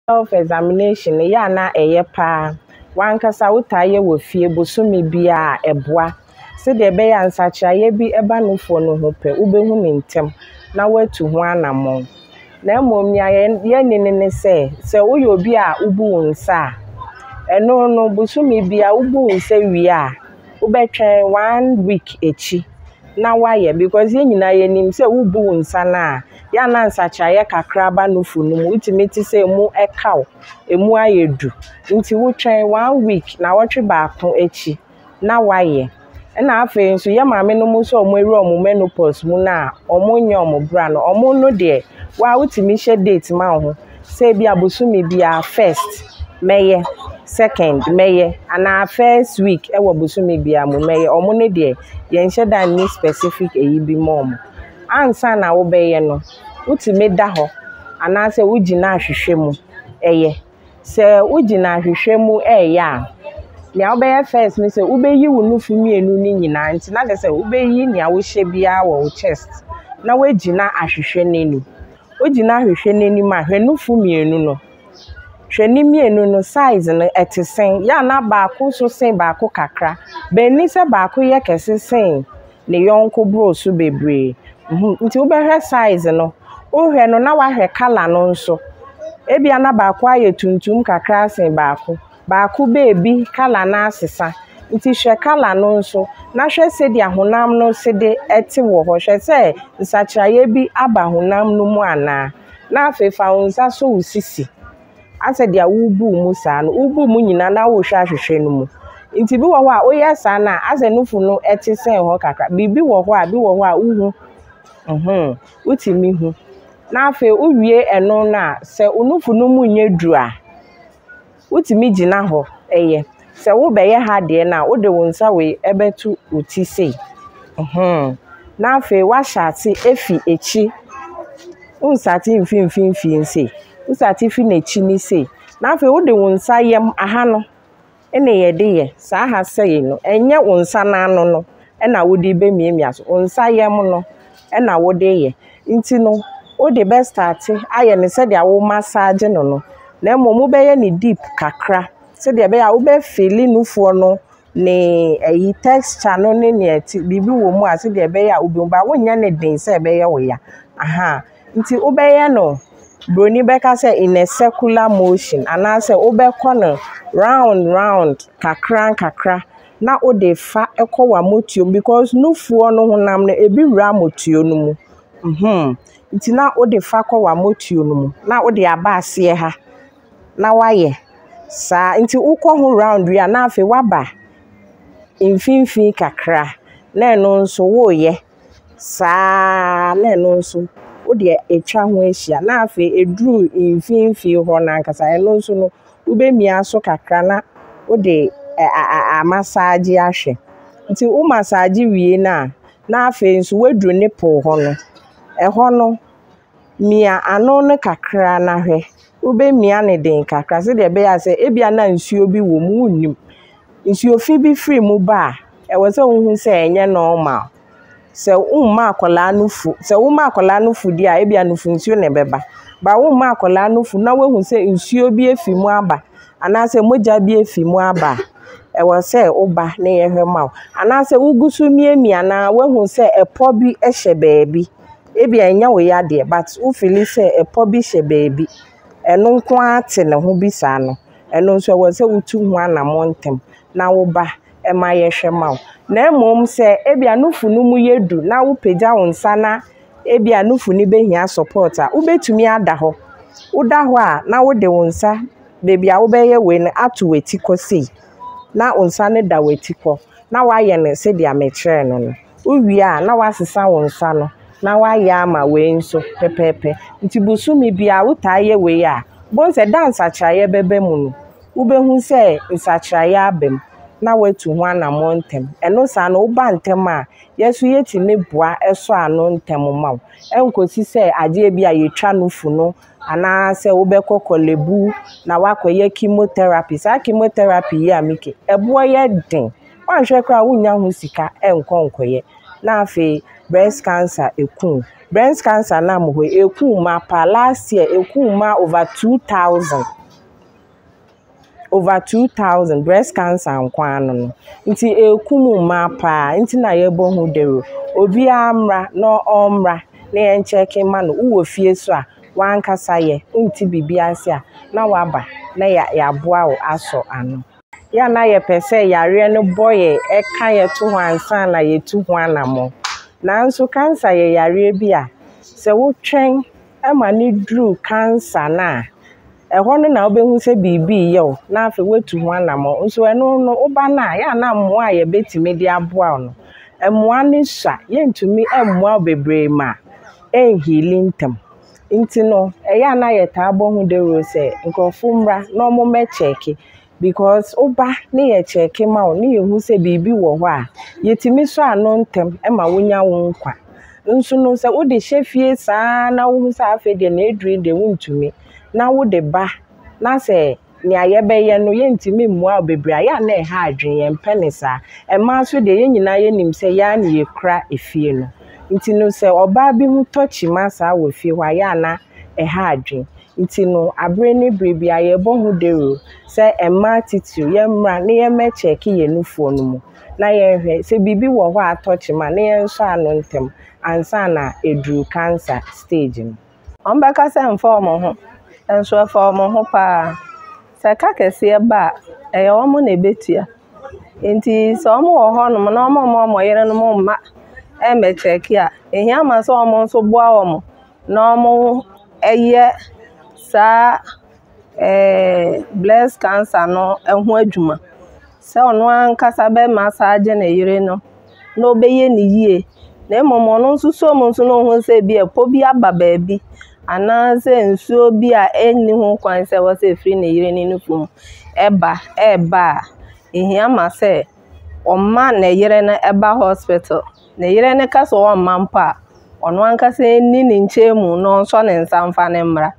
Self examination yɛ a na ɛyɛ paa wankasa wotaa yɛ wɔ fie bosome biara ɛboa sɛdeɛ ɛbɛyɛ a nsakyeraeɛ bi ba nufoɔ no ho pɛ wobɛhu no ntɛm na woatu ho anammɔn na mmom nea yɛnne no ne sɛ sɛ woyɛ obi a wobu wo nsa a ɛno no bosome biara wobu wo nsa wie a wobɛtwɛn one week akyi na woayɛ because yɛn nyinaa yɛnim sɛ wobu wo nsa no a yɛ a na nsakyeraeɛ kakra ba nufu no mu. Wotumi te sɛ emu ɛka wo, emu ayɛ du. Nti wotwɛn one week, naawɔtwe baako akyi na wayɛ. Ɛna afei nso yɛ maame no mu nso a wɔawura wɔn menopause mu no a wɔnyɛ wɔn bra no, wɔn no deɛ waa wotumi hyɛ date ma wo ho sɛ ebi a bosome biara first mɛyɛ, second mɛyɛ anaa first week ɛwɔ bosome biara mu mɛyɛ. Wɔn no deɛ yɛnhyɛ da nni specific ɛyi bi ma wɔn. ansa na wobɛyɛ no, wotumi da hɔ anaasɛ wogyina ahwehwɛ mu yɛ. Sɛ wogyina ahwehwɛ mu reyɛ a, deɛ wobɛyɛ first ne sɛ wobɛyi wo nufu mmienu no nyinaa nti na kyerɛ sɛ wobɛyi deɛ wohyɛ biara wɔ wo chest na woagyina ahwehwɛ no anim. Wogyina ahwehwɛ no anim a, hwɛ nufu mmienu no. Hwɛ ne mmienu no size no ɛte sɛ. Yɛ a na baako nso sen baako kakra. But ɛnni sɛ baako yɛ kɛse sen ne yɔnko boro so bebree. Humm, nti wobɛhwɛ size no, wohwɛ no na woahwɛ colour no nso. Ebia na baako ayɛ tuntum kakra asen baako. Baako baabi colour no asesa. Nti hwɛ colour no nso na hwɛ sɛdeɛ honam no sede te wɔ hɔ. Hwɛ sɛ nsakyeraeɛ bi aba honam no mu anaa. Na afei fa wo nsa sɔ wo sisi. Asɛ deɛ wobu mu saa no, wobu mu nyinaa na wohwɛ ahwehwɛ no mu. Nti bi wɔ hɔ a woyɛ saa no a, asɛ nufu no te sɛn hɔ kakra. Biribi wɔ hɔ a, bi wɔ hɔ a wohu. Mm-hmm, wotumi hu. Na afei wowie ɛno no a, sɛ wo nufu no mu nyɛ duru a. Wotumi gyina hɔ yɛ. Sɛ wobɛyɛ ha deɛ no a, wode wo nsa wei bɛto wo ti sei. Ɛhɛn. Na afei woahyɛ ase fi akyi. Wonsate mfiri mfimfini sei. Wosate fi n'akyi ne sei. Na afei wode wo nsa yam aha no na yɛde yɛ. Saa ha sei no, ɛnyɛ wo nsa no ano no na wode bɛmiamia so. Wo nsa yam no. na wode reyɛ. Nti no, wode bɛstate ayɛ no sɛdeɛ womasaagye no no, na mmom wobɛyɛ no deep kakra sɛdeɛ ɛbɛyɛ a wobɛfili nufoɔ no ne ayi texture no ne deɛ ɛte biribi wɔ mu a sɛdeɛ ɛbɛyɛ a wobɛhu but wonyɛ no den sɛ ɛbɛyɛ wo ya. Aha, nti wobɛyɛ no, buroni bɛka sɛ in a circular motion anaasɛ wobɛkɔ no round round kakra nkakra na wode fa kɔ w'amotuo mu because nufoɔ no honam no ebi wura amotuo no mu hmm nti na wode fa kɔ w'amotuo no mu na wode aba aseɛ ha na wayɛ saa nti wokɔ ho round wie a na afei waba mfimfini kakra na ɛno nso woreyɛ. saa ara na ɛno nso wode atwa ho ahyia na afei ɛduru mfimfini hɔ no ankasa ɛno nso no wobɛmia so kakra na wode ɛ a a amasaagye ahwɛ nti wo masaagye wie no a na afei nso woaduru nipple hɔ no ɛhɔ no. mia ano no kakra na hwɛ. Wobɛmia no den kakra sɛdeɛ ɛbɛyɛ a sɛ ebia na nsuo bi wɔ mu a wonnim. Nsuo fi bi firi mu ba a, ɛwɔ sɛ wohu sɛ ɛnyɛ normal. Sɛ womma akwadaa no fu sɛ woma akwadaa no fu deɛ a, ebia nufu nsuo na ɛbɛba. But womma akwadaa no fu na woahu sɛ nsuo bi afi mu aba anaasɛ mogya bi afi mu aba a, ɛwɔ sɛ woba na yɛhwɛ ma wo. Anaasɛ wogu so miamia no ara woahu sɛ ɛpɔ bi hyɛ baabi Ebia ɛnyɛ wo ya deɛ but wo fili sɛ ɛpɔ bi hyɛ baabi. Ɛno nko ara te ne ho bi saa no, ɛno nso ɛwɔ sɛ wotu ho anammɔn ntɛm na woba ma yɛhwɛ ma wo. Na mmom sɛ ebia nufu no mu yɛ duru na wopagya wo nsa na ebia nufu no bɛhia support a, wobɛtumi ada hɔ. Woda hɔ a na wode wo nsa baabi a wobɛyɛ wei no ato w'ati kɔ sei na wo nsa no da w'ati kɔ. na woayɛ no sɛdeɛ mekyerɛɛ no no. Wowie a, na woasesa wo nsa no na woayɛ ama wei nso pɛpɛɛpɛ. Nti bosome biara wotaa yɛ wei a, wobɛhu sɛ da a nsakyeraeɛ bɛba mu no, wobɛhu sɛ nsakyeraeɛ aba mu na woatu ho anammɔn ntɛm. Ɛno saa no, woba ntɛm a, yɛn nso yɛtumi boa sɔ ano ntɛm ma wo. Ɛnkɔsi sɛ adeɛ bi a yɛtwa no fu no anaasɛ wobɛkɔ kɔlɛbu na woakɔyɛ chemotherapy. Saa chemotherapy yi a meka ɛboɔ yɛ den. Woanhwɛ koraa wonnya ho sika nkɔ nkɔyɛ. Na afei breast cancer ɛku wo. Breast cancer nam hɔ yi ɛku mmaa paa. Last year ɛku mmaa over two thousand. over two thousand breast cancer nko ara no no. Nti ɛrekum mmaa pa ara, nti na yɛrebɔ ho dawuro. Obiara mmra na ɔmmra na yɛnkyɛke mma no. Wowɔ fie nso a, w'ankasa yɛ, wonte biribi ase a, na woaba na yɛaboa wo asɔ ano. Yɛ a na yɛpɛ sɛ yareɛ no bɔ yɛn, ɛka yɛn to hɔ ansa na yɛatu ho anammɔn. Nanso cancer yɛ yareɛ bi a, sɛ wotwɛn ma no duru cancer no a, ɛhɔ no na wobɛhu sɛ biribi reyɛ wo na afei woatu ho anammɔn. Nso ɛno no, woba no a, yɛ a na mmoa a yɛbɛtumi de aboa wo no, mmoa no sua. Yɛntumi mmoa wo bebree ma ɛnhili ntɛm. Nti no, ɛyɛ a na yɛtaa bɔ ho dawuro sɛ nkurɔfoɔ mmra na wɔmmɛkyɛɛke because woba ne yɛ kyɛɛke ma wo ne yɛhu sɛ biribi wɔ hɔ a, yɛtumi sɔ ano ntɛm ma wonya wo nkwa. Nso no sɛ wode hyɛ fie saa ara na wohu sɛ afei deɛ na aduru yi deɛ wontumi na wode ba na sɛ deɛ yɛbɛyɛ no yɛntumi mmoa wo bebree a, ɛyɛ a na ɛha adwene, yɛmpɛ no saa. Mmaa nso deɛ yɛn nyinaa yɛnim sɛ yɛn ara na yɛkura fie no. Nti no sɛ ɔbaa bi ho tɔ kyima saa wɔ fie hɔ a, ɛyɛ a na ɛha adwene. Nti no, abere ne bere biara yɛbɔ ho dawuro sɛ mmaa titiriw, yɛmmra na yɛmmɛkyɛɛke yɛn nufoɔ no mu na yɛnhwɛ sɛ biribi wɔ hɔ a atɔ kyema na yɛnsɔ ano ntɛm ansa na aduru cancer stage no. Wɔbɛka sɛ ɛmfa wɔn ho, nanso ɛfa wɔn ho pa ara. Sɛ ɛka kɛseɛ ba a, ɛyɛ wɔn na ɛbɛtua. Nti sɛ wɔwɔ hɔnom na wɔmma wɔn yerenom mma mmɛkyɛɛke a, ɛhia ma sɛ wɔn nso boa wɔn. na wɔyɛ saa breast cancer no ho adwuma. Sɛ ɔno ankasa bɛma asage ne yere no na ɔbɛyɛ no yie. Na mmom ɔno nso sɛ ɔhu sɛ ebia ɛpɔ bi aba baabi anaasɛ nsuo bi a ɛnni ho kwan sɛ ɛwɔ sɛ ɛfiri ne yere ne nufu mu ba reba a, ɛhia ma sɛ ɔma ne yere no ba hospital. ne yere no ka sɛ ɔremma mpo a, ɔno ankasa nni ne nkyɛn mu na ɔnsɔ ne nsa mfa no mmra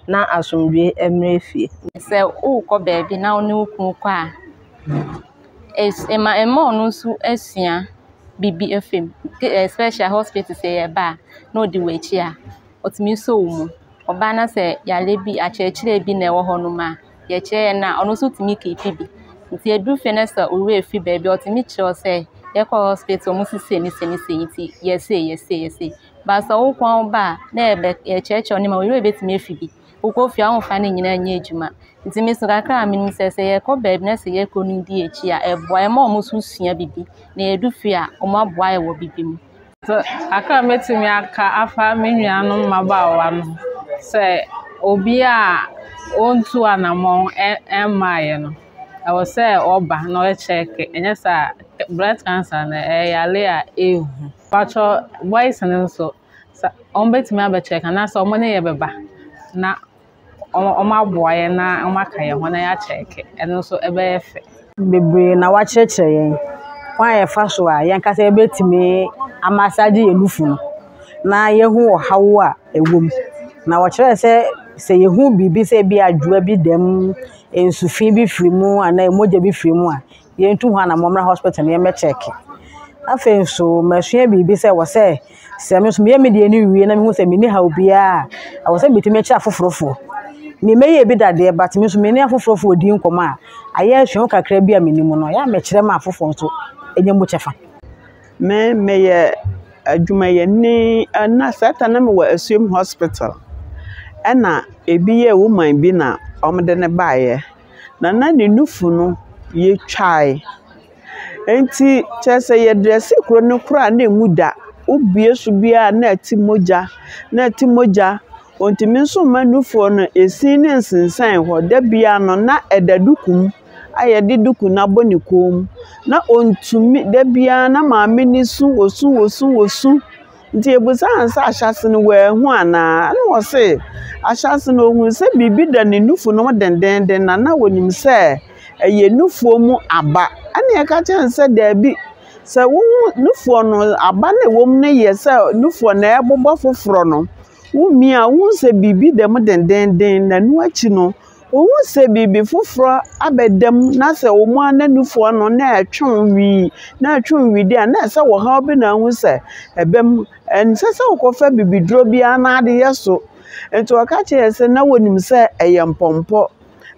na asomdwoeɛ mmra efie. Sɛ worekɔ baabi na wo ne wo kunu kɔ a, es ma ɛma ɔno nso sua biribi afi mu, especially hospital sɛ yɛreba a na ɔdi w'akyi a, ɔtumi sɔ wo mu. Ɔbaa na sɛ yareɛ bi, akyerɛkyerɛ bi na ɛwɔ hɔnom a. deɛ ɛkyerɛ yɛ no a, ɔno nso tumi keepi bi. Nti ɛduru fie no sɛ owura ɛfiri baabi a, ɔtumi kyerɛ wo sɛ yɛkɔ hospital mu sesei ne sei ne sei nti yɛ sei yɛ sei yɛ sei. But sɛ wo nkoaa wo ba a, ne yɛ bɛkyerɛkyerɛ wo nneɛma, wo werɛ bɛtumi afi bi. Wokɔ fie a womfa ne nyinaa nyɛ adwuma. Nti me nso kakra a menim sɛ, sɛ yɛkɔ baabi na sɛ yɛkɔ no di akyi a, ɛboa yɛ ma wɔn nso sua bibi. Na yɛdu fie a, wɔaboa yɛ wɔ bibi mu. Sɛ kakra a mɛtumi aka afa me nuanom mmabaawa no ho sɛ obi a ɔntu anamɔn mmaeɛ no ɛwɔ sɛ ɔba na ɔkyɛke anyɛ saa a breast cancer no ɛyɛ yare a ɛhu. Mpakyɛw boys no nso wɔbɛtumi abɛkyɛke anaasɛ wɔne yɛ bɛba na. wɔaboa yɛn na wɔaka yɛn ho na yɛakyɛke. Ɛno nso ɛbɛyɛ fɛ. Bebree na wɔakyerɛkyerɛ yɛn kwan a yɛfa so a yɛn ankasa yɛbɛtumi ama ase agye yɛn nufu no na yɛahu ɔhaw a ɛwɔ mu. Na wɔkyerɛɛ sɛ, sɛ yɛhu biribi sɛ ebia adwowa bi da mu, nsu fi bi firi mu anaa mogya bi firi mu a, yɛntu ho anammɔn mmra hospital na yɛmmɛkyɛɛke. Afei nso, masua biribi sɛ ɛwɔ sɛ sɛ me nso meyɛ me deɛ no wie na mehu sɛ menni haw biara a, ɛwɔ sɛ metumi kyerɛ afoforofoɔ. Memmɛyɛɛ bi dadeɛ but me nso me ne afoforofoɔ redi nkɔmmɔ a, ayɛ asuahu kakra bi a menim no, ɛyɛ a mekyerɛ ma afoforɔ nso nya mu kyɛfa. Me meyɛ adwumayɛni na saa ta na mewɔ Asuom hospital. Ɛna ebi yɛ woman bi na wɔde no baeɛ. na na ne nufu no yɛ twae. Enti kyerɛ sɛ yɛdrɛse kuro no koraa a na ɛmu da. Wobue so biara a na ɛte mogya, na ɛte mogya. Wɔntumi nso mma nufoɔ no, ɛsi no nsensɛne hɔ. Da biara no, na ɛda duku mu a wɔde duku no abɔ ne kɔn mu. Na ɔntumi, da biara na maame no su, ɔsu, ɔsu, ɔsu. Nti ebusaa no sɛ, Ahyɛse no woehu anaa? Nna ɔse, Ahyɛse no ohun sɛ biribi da ne nufu no ho dendenden na nna onyim sɛ ɛyɛ nufuo mu aba. Ɛna yɛka kyerɛɛ no sɛ, Daabi, sɛ wohu nufuo no, aba no a ɛwɔ mu no yɛ sɛ nufuo no ɛrebobɔ foforɔ no, womia a, wohu sɛ biribi da mu dendenden na ɛno akyi no, Wohu sɛ biribi foforɔ abɛda mu na sɛ wɔn ananmufoɔ no na ɛtwe wo wii na ɛtwe wo wii deɛ a na ɛsɛ sɛ ɔhaw bi na ahu sɛ ɛba mu. Ɛnsɛ sɛ wokɔfa bibiduro biara na ade yɛ so. Nti ɔka kyerɛɛ sɛ na wɔnim sɛ ɛyɛ mpɔmpɔ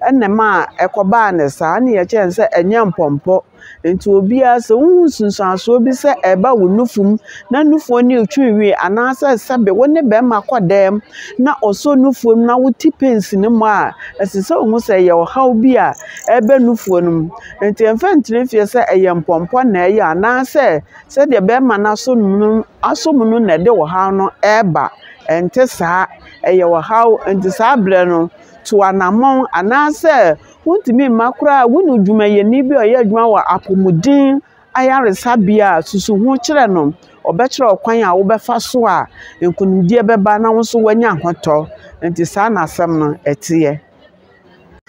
ɛna ɛmaa ɛkɔbaa no saa. Ɛnna yɛkyerɛɛ no sɛ ɛnyɛ mpɔmpɔ. Nti obiara sɛ wohu nsunsuansoɔ bi sɛ ɛreba wo nufu mu na nufoɔ no retwe nwi anaasɛ sɛbe wo ne bɛrima kɔ dɛm na ɔsɔ nufoɔ mu na wote pains no mu a, ɛsɛ sɛ wohu sɛ ɛyɛ ɔhaw bi a ɛreba nufoɔ no mu. Nti ɛmfa ntena fie sɛ ɛyɛ mpɔmpɔ na ɛyɛ anaasɛ sɛdeɛ bɛrima no asɔ mu no asɔ mu no na ɛde ɔhaw no ɛreba. Ɛnte saa, ɛyɛ ɔhaw. Nti saa berɛ no, tu anammɔn anaasɛ Wontumi mma koraa a wonu dwumayɛni bi a ɔyɛ adwuma wɔ apomuden ayaresabea a susu ho kyerɛ no, ɔbɛkyerɛ wo kwan a wobɛfa so a nkonimdie bɛba na wo nso woanya ahotɔ. Nti saa na asɛm no ɛteɛ.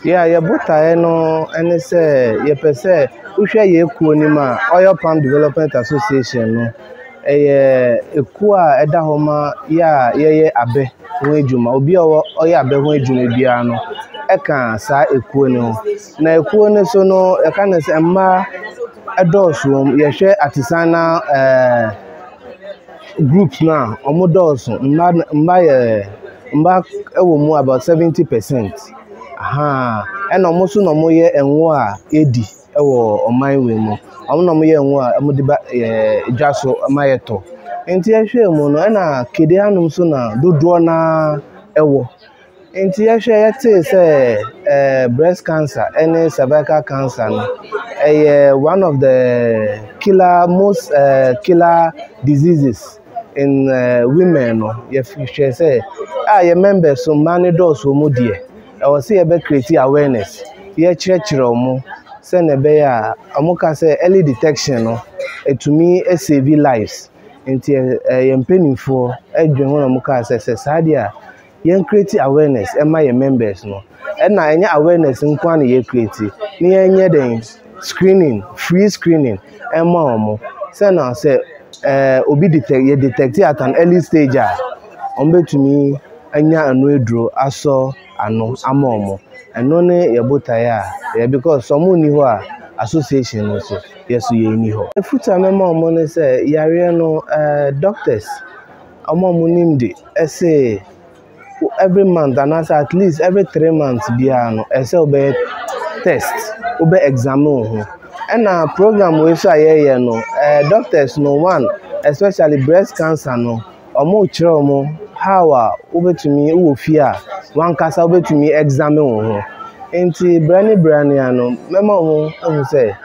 Yɛ a yɛ botaeɛ no ne sɛ yɛpɛ sɛ wohwɛ yɛn kuo no mu a, Oil Palm Development Association no Ɛyɛ ekuo a ɛda hɔ ma yɛ a yɛyɛ abɛ ho adwuma. Obi a ɔwɔ ɔyɛ abɛ ho adwuma biara no ɛka saa ekuo no ho. Na ekuo no so no yɛka no sɛ mmaa ɛdɔɔso wɔ mu. Yɛhwɛ Ateseana ɛɛ group no a ɔmo dɔɔso. Mmaa na mmaa yɛ mmaa ɛwɔ mu about seventy pɛsɛnt ahaa ɛna ɔmo nso na ɔmo yɛ ɛngo a yɛdi. wɔ ɔman wei mu. Wɔn na wɔyɛ ngo a wɔde ba ɛɛ dwa so ma yɛtɔ. Nti yɛhwɛ mu no, ɛna kede anom nso na dodoɔ no ara wɔ. Nti yɛhwɛ a, yɛtee sɛ ɛɛ breast cancer ne cervical cancer no, ɛyɛ one of the killer most ɛɛ killer diseases in ɛɛ women no. Yɛhwɛ sɛ a yɛn members no, mmaa no dɔɔso wɔn mu deɛ. Ɛwɔ sɛ yɛbɛ create awareness, yɛkyerɛkyerɛ ɔmo sɛnea ɛbɛyɛ a, ɔmo ka sɛ early detection no ɛtumi save lives. Nti yɛn mpaninfoɔ dwen ho na ɔmo kaa sɛ sɛ saa deɛ a yɛn create awareness ɛma yɛn members no, ɛna ɛnyɛ awareness nkoaa na yɛ create na yɛnyɛ dɛn, screening, free screening ma wɔn. Sɛ na sɛ ɛɛ obi detect yɛ detect at an early stage a, wɔbɛtumi anya ɛno aduro asɔ ano ama wɔn. Ɛno ne yɛ botaeɛ a yɛ because sɛ wɔn nni hɔ a association no nso yɛ nso yɛn nni hɔ. Afotuo a mɛma wɔn ne sɛ yareɛ no ɛɛ doctors wɔn a wɔnim de ɛse. every month anaa sɛ at least every three months biara no ɛsɛ sɛ wobɛyɛ test, wobɛ examine wo ho. Ɛna program wei nso a yɛyɛ no, eh, doctors no one especially breast cancer no, wɔn kyerɛ wɔn how a wobɛtumi wɔ fie a wankasa wobɛtumi examine wo ho. Nti berɛ ne berɛ ne ano mɛma wɔn ahu sɛ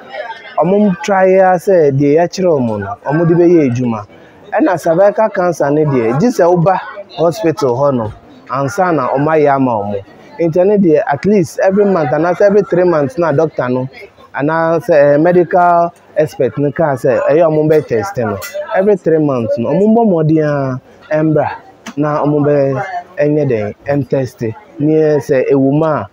wɔn try ara sɛ deɛ yɛkyerɛ wɔn no wɔn de bɛyɛ adwuma. Ɛna cervical cancer no deɛ gye sɛ woba hospital hɔ nom ansa na wɔn ayɛ ama wɔn. Nti ɛno deɛ at least every month anaasɛ every three months na doctor no anaasɛ ɛyɛ medical expert no kaa sɛ ɛyɛ wɔn bɛ test no. Every three months no wɔn bɔ mmɔden ara ɛmbra na wɔn bɛ ɛnyɛ dɛn ɛntɛste neɛ sɛ ɛwɔ mu a